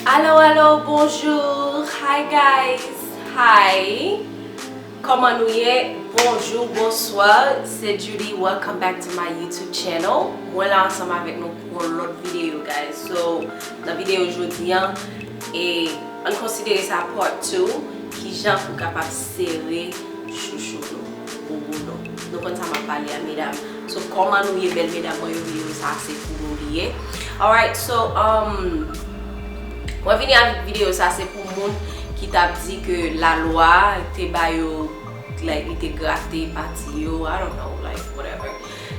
Allo allo bonjour hi guys hi Koman nou ye bonjour bonsoir se Judy welcome back to my YouTube channel mwen la ansanm avèk nou pou yon lòt video guys so nan video jodi an e ann konsidere sa part 2 kijan pou kapab sere chouchou nou boubou nou nou konn sa map pale a medam. So kòman nou ye bèl medam mwen yo video sa se pou nou li ye alright so umm mwen vini avèk video sa se pou moun ki tap di ke la lwa te ba yo like li te grate pati yo I don't know like whatever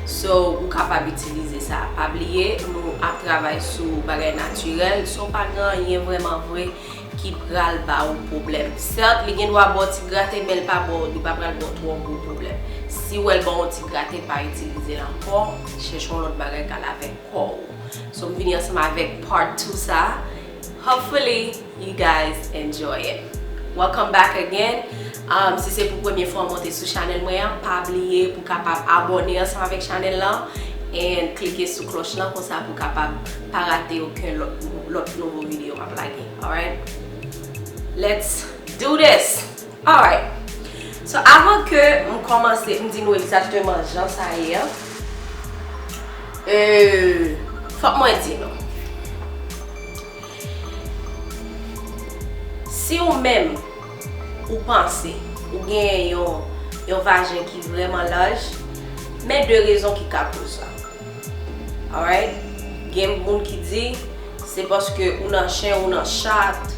so ou kapab itilize sa pa bliye nou ap travay sou bagay natirèl so pa gen anyen vrèman vre ki pral ba ou pwoblèm. Sèt, li gen dwa ba w ti grate men li pa ba w, li pa pral ba w twò gwo pwoblèm. Si ou wè l ba w yon ti grate, pa itilize l ankò, chèche yon lòt bagay kal avèk kò ou. So m vini ansanm avèk part 2 sa a. Hopefully you guys enjoy it. Welcome back again. Si se pou premye fwa ou monte sou chanèl mwen an, pa bliye pou kapab abòne ansanm avèk chanèl lan and klike sou klòch lan konsa pou kapab Pa rate oken lòt nouvo video map lage alright Let's do this Alright So avan ke m kòmanse m di nou egzakteman jan sa ye an euh fòk mwen di nou Si ou menm ou panse ou gen yon vajen ki vrèman laj men 2 rezon ki ka koz sa. Alright gen moun ki di se paske ou nan chen ou nan chat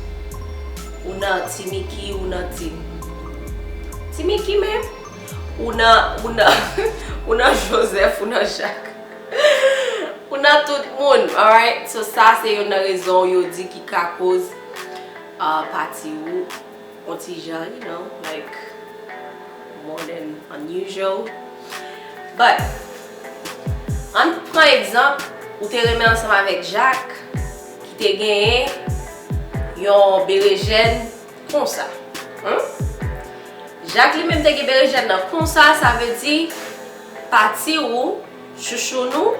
ou nan ti miki ou nan ti ti miki menm ou nan ou nan ou nan joseph ou nan jak ou nan tout moun alright so sa se youn nan rezon yo di ki ka koz pati ou On ti jan you know like more than unusual but ann pran egzanp ou te renmen ansanm avèk Jak ki te genyen yon berejèn konsa humm Jak li menm te gen berejèn nan konsa sa vle di pati ou Chouchounou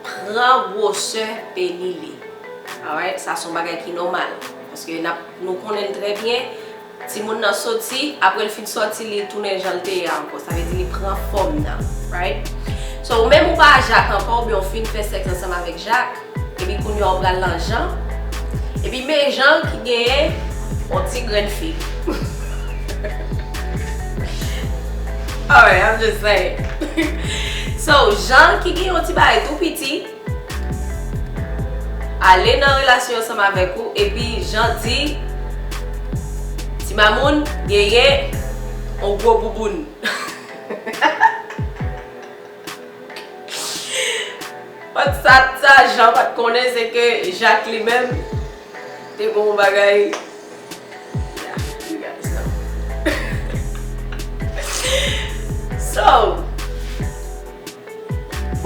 pran gwosè peni li alright sa son bagay ki nòmal paske nap nou konnenn trè byen timoun nan soti aprèl fin sòti li tounen janl te ye a ankò sa vle di li pran fòm nan right so ou menm ou pa a jak ankò oubyen ou fin fè sèks ansanm avèk jak Epi kounya ou pral nan Jean. Epi men Jean ki genyen yon ti grenn fi. Alright, I'm just saying. So, Jean ki gen yon ti bagay tou piti, ale nan relasyon ansanm avèk ou, epi Jean di, Ti Mamoun genyen yon gwo bouboun. But sa sa Jean pat konnen se ke Jacques li menm te gen yon bagay Yeah you guys know So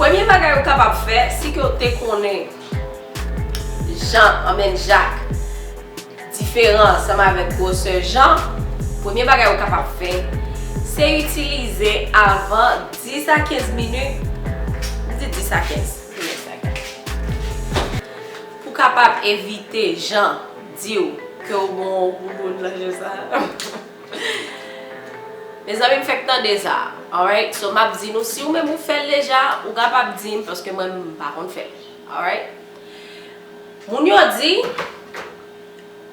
Premye bagay ou kapab fè si ke ou te konnen Jan anben Jak. Diferan ansanm avèk gwosè jan, premye bagay ou kapab fè, se itilize avan 10 a 15 minit, m di 10 a 15 minit la gade, pou kapab evite jan di w ke w bon w bouboun nan je sa. Mezanmi m fèk tande sa alright so map di nou si ou menm ou fèl deja ou kapab dim paske mwen menm m pa konn fèl alright moun yo di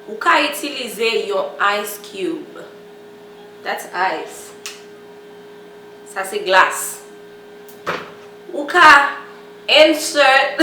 ou ka itilize yon ice cube that's ice sa se glas ou ka insert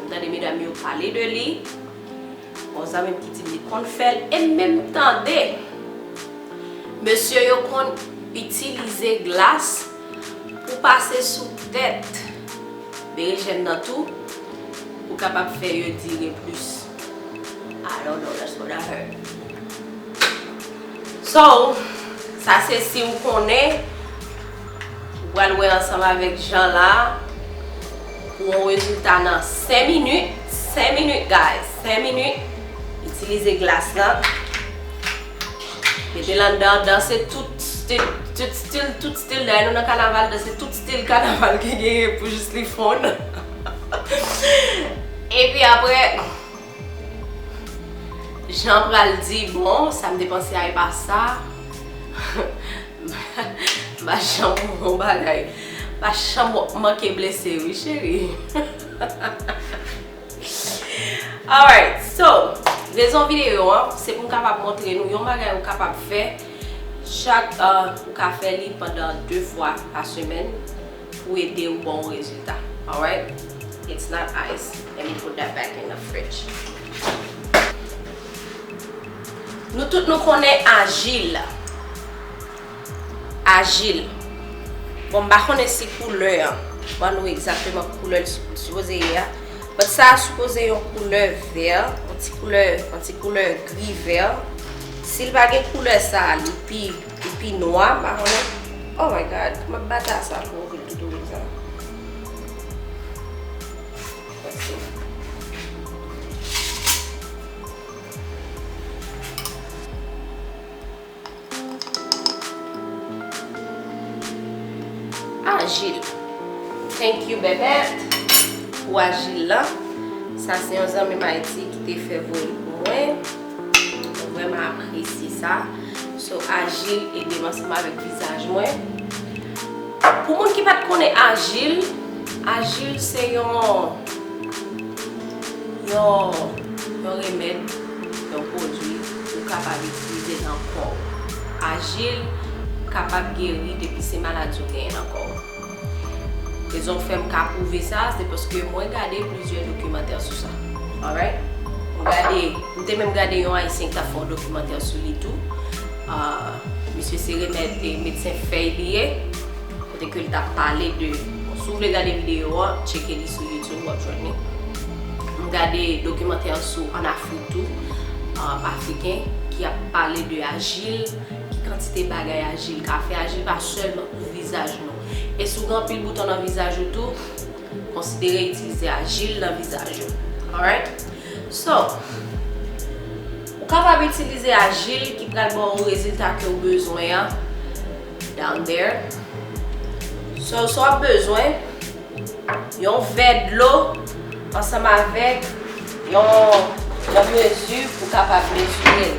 M tande medam yo pale de li, bon zanmi m ki di m li konn fè l e m menm tande mesye yo konn itilize glas pou pase sou tèt berejèn nan tou pou kapab fè yo dire plis. I don't know, that's what I heard. So, sa se si w konnen, ou pral wè ansanm avèk Jean la. Gwo rezilta nan 5 minit, 5 minit guys, 5 minit, itilize glas lan, mete l anndan, danse tout stil, tout stil, tout stil, dayè nou nan kanaval, danse tout stil kanaval ki genyen pou jis li fonn, epi aprè. Jean pral di bon sa m te panse a epa sa Ba Jean pou bon bagay Ba Jean wap manke blese wi cheri Alright so rezon videyo an se pou m kapab montre nou yon bagay ou kapab fè chak ou ka fè li pandan 2 fwa pa semèn. pou edew bon rezilta alright it's not ice let me put that back in the fridge nou tout nou konnen ajil ajil bon m pa konnen si koulè an ban nou egzateman ki koulè li sipoze ye a but sa sipoze yon koulè vè yon ti koulè gri vè sil pa gen koulè sa li pi Li pi nwa m pa konnen. Oh my God m ap bat a sa pou li toutou konsa. Ajil. Thank you Bebert pou ajil lan. Sa se yon zanmi m Ayiti ki te fè voye l pou mwen. Mwen vreman apresye sa. So ajil edem ansanm avek vizaj mwen. Pou moun ki pat konnen ajil, ajil se yon yon remed, yon pwodwi ou kapab itilize nan kow. Ajil kapab geri depi se maladi ou genyen nan kow. Rezon fèm ka pwouve sa se paske mwen gade plizyè dokimantè sou sa. Alright? M gade, m te menm gade yon ayisyen ki tap fè yon dokimantè sou li tou. Misye se remèd e medsen fèy li ye. Kote ke li tap pale de, bon si w vle gade videyo an, tcheke li sou YouTube wap jwenn li. M gade dokimantè sou an Afrik tou, Afriken ki ap pale de ajil, ki kantite bagay ajil ka fè. Ajil pa sèlman pou vizaj nou. E si w gen anpil bouton nan vizaj ou tou, konsidere itilize ajil nan vizaj ou. Alright? So, ou kapab itilize ajil ki pral ba w rezilta ke w bezwen an down there. So, sa w ap bezwen, yon vè dlo ansanm avèk yon mezi pou w kapab mezire l.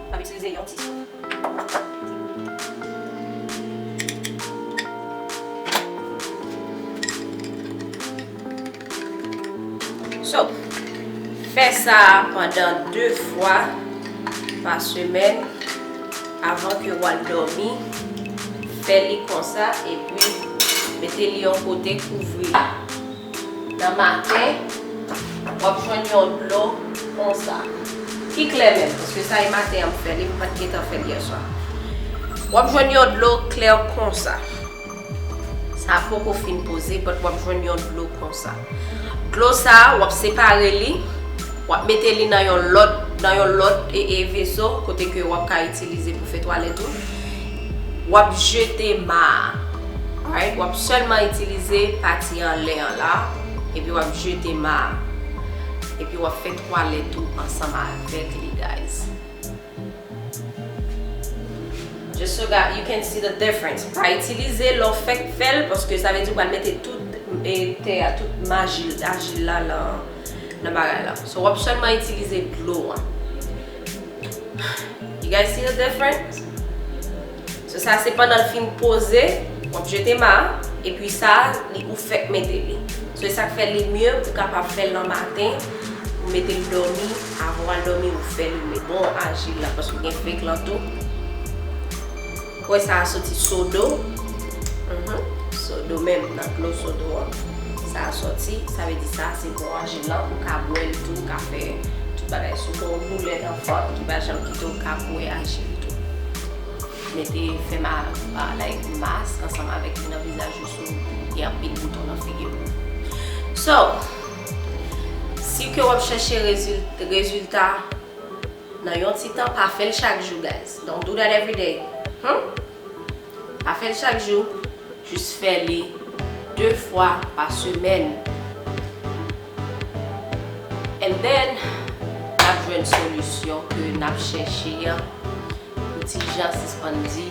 M ap itilize yon ti sou. So, fè sa pandan 2 fwa pa semèn avan ke w al dòmi. Fè li konsa epi mete li yon kote kouvri li. Nan maten, w ap jwenn yon dlo konsa. Ki klè menm, paske sa e maten an m fè li, m pa t gen tan fè l yèswa. W ap jwenn yon dlo klè konsa. Sa a poko fin poze, bat w ap jwenn yon dlo konsa. Dlo sa a, w ap separe li, w ap mete li nan yon lòt veso, kote ke w ap ka itilize pou fè twalèt ou. Wap jete ma a. Alright, wap sèlman itilize pati anlè an la, epi wap jete ma a. Epi wap fè twalèt ou ansanm avèk li guys. Just so that you can see the difference. Pa itilize lè w fèk fè l, paske sa vle di ou pral mete tout te a, tout maji, ajil la nan bagay la. So wap sèlman itilize dlo an. You guys see the difference? So sa se pandan l fin poze, w ap jete ma a, epi sa a li ou fèk mete li. So e sa k fè li mye ou kapab fè l nan maten, ou mete l dòmi, avan w al dòmi ou fè li. Li bon ajil la paske gen feg lan tou. Kwen sa a soti sodo. Sodo menm nan dlo sodo an sa a soti. Sa vle di sa a se bò aje lan. Ou ka bwè l tou. Ou ka fè tout bagay sou kò w. Boulè nan vant ki pa janm kite w ka bwè aje l tou. Mete fè ma like mask ansanm avèk li nan vizaj ou si w gen anpil bouton nan figi w. So, si ke w ap chèche rezil rezilta. nan yon ti tan pa fèl chak jou guys don't do that everyday humm pa fèl chak jou jus fè li de fwa pa semèn and then nap jwenn solisyon ke nap chèche an pou ti jan sispann di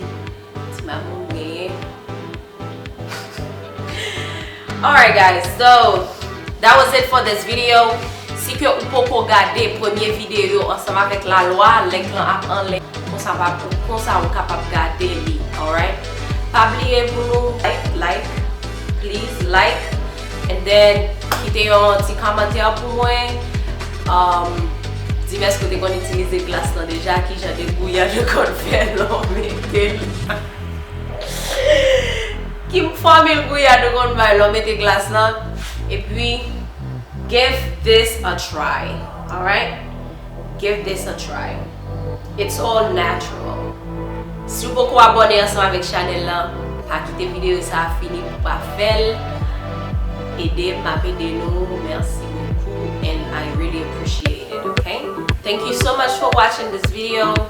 ti mamoun genyen. Alright guys, so that was it for this video. Si ke ou poko gade premye video yo ansanm avèk la lwa, link lan ap anlè konsa pa pou konsa ou kapab gade li alright. Pa bliye pou nou like, like, please like and then kite yon ti kòmantè pou mwen um dim èske ou te konn itilize glas lan deja, kijan debouyan yo konn fè lè w mete l. Kim fòmil gouyad ou konn bay lè w mete glas lan epi give this a try alright give this a try it's all natural si w poko abòne ansanm avèk chanèl lan pa kite videyo sa a fini pou w pa fè l ede m map ede nou merci beaucoup and I really appreciate it ok thank you so much for watching this video.